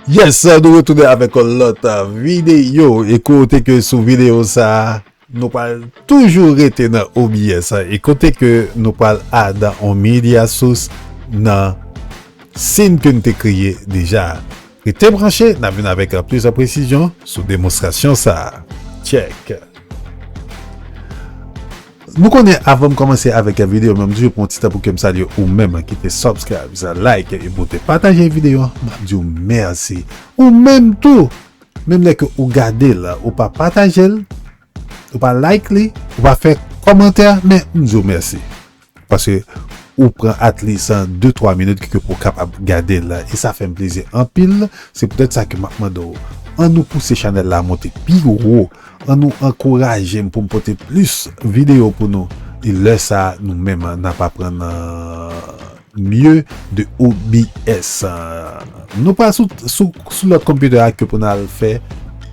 Yes, nou retounen avèk yon lòt videyo. E kote ke sou videyo sa, nou pal toujou rete nan OBS. E kote ke nou pal adan on media source nan sin ke nou te kreye deja. Rete branche, n ap vin avèk plis presizyon sou demonstrasyon sa a. Tchèk! Nou konnen avan m kòmanse avèk videyo mwen, m toujou pran yon ti tan pou ke m salye ou menm ki te subscribes, like epi ou te pataje videyo an, m ap di w mèsi. Ou menm tou, menm lè ke ou gade l, ou pa pataje l, ou pa like li, ou pa fè kòmantè, men m di w mèsi. Paske ou pran at least 2 3 minit ke pou w kapab gade l e sa fè m plezi anpil se poutèt sa ke m ap mande w an nou pouse chanèl la monte pi wo an nou ankouraje m pou m pote plis videyo pou nou e lè sa nou menm n ap aprann mye de OBS nou pa sou lòt computer a ke pou n al fè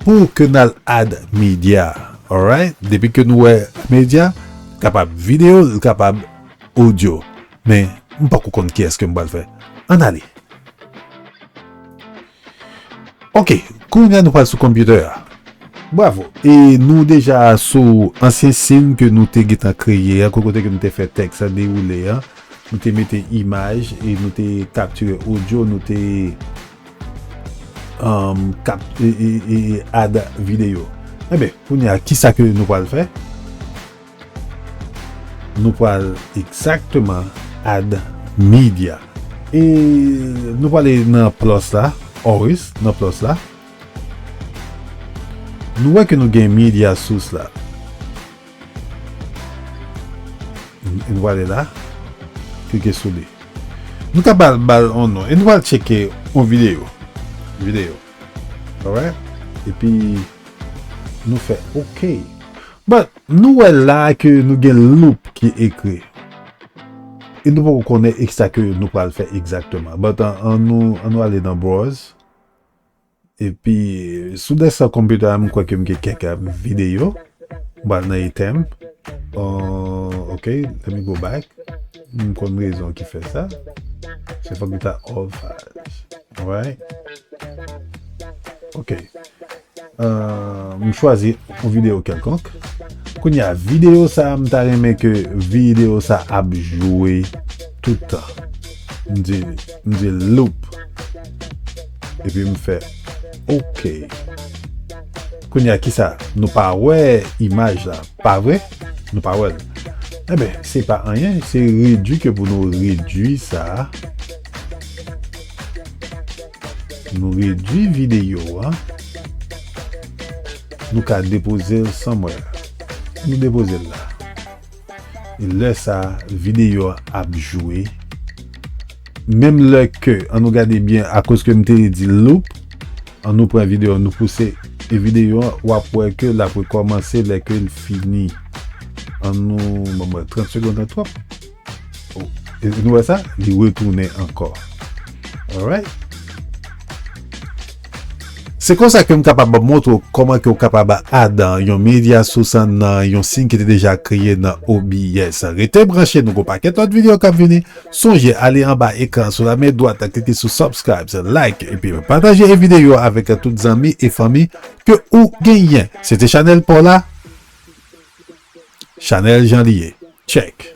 pou ke n al add media alright depi ke nou wè media. kapab video l kapab audio men m pako konn ki eske m pral fè ann ale ok kounya nou pral sou computer a bravo e nou deja sou ansyen sin ke nou te gentan kreye a kote ke nou te fè teks la dewoule a nou te mete imaj e nou te kaptire audio nou te. Kap add video. Enben kounye a kisa ke nou pral fè? Nou pral egzakteman add media. E nou pral ale nan plus la, always nan plus la. Nou wè ke nou gen media source la. E nou prale la. Klike sou li. Nou ka bal bal on non. E nou pral tcheke on video. Video. Alright. E pi nou fè ok. But nou wè la ke nou gen loop ki ekri. E nou poko konnen eksa ke nou pral fè ekzakteman. But an nou ale nan browse. Epi sou desktop computer a m kwè ke m gen kèk videyo. M pral nan etem. Uh, ok, let me go back. M konn rezon ki fè sa. Se fòk li ta all files. Alright. Ok. Uh, m chwazi yon videyo kelkonk. Kounye a, videyo sa m ta renmen ke videyo sa ap jwe tout tan. M di M di loop. Epi m fè ok. Kounye a kisa? Nou pa wè imaj la, pa vre? Nou pa wè l. Enben, se pa anyen, se redui ke pou nou redui sa. Nou redui videyo a. Nou ka depoze l somewhere. Nou depoze l la. Lè sa video a ap jwe menm lè ke an nou gade byen akoz ke m te di loop an nou pran video an nou pouse e video an wap wè ke lap rekomanse lè ke l fini an nou banm wè 30 segond lan twòp oh e nou wè sa li retounen ankò alright. Se konsa ke m kapab montre w kòman ke w kapab ad yon media source nan yon sin ki te deja kreye nan OBS. Rete branche nou gon pakèt lòt video kap vini. Sonje ale anba ekran sou la men dwat klike sou subscribes, like epi pataje e video avèk tout zanmi e fanmi ke ou genyen. Se te chanèl paw la Chanèl jan li ye. Check.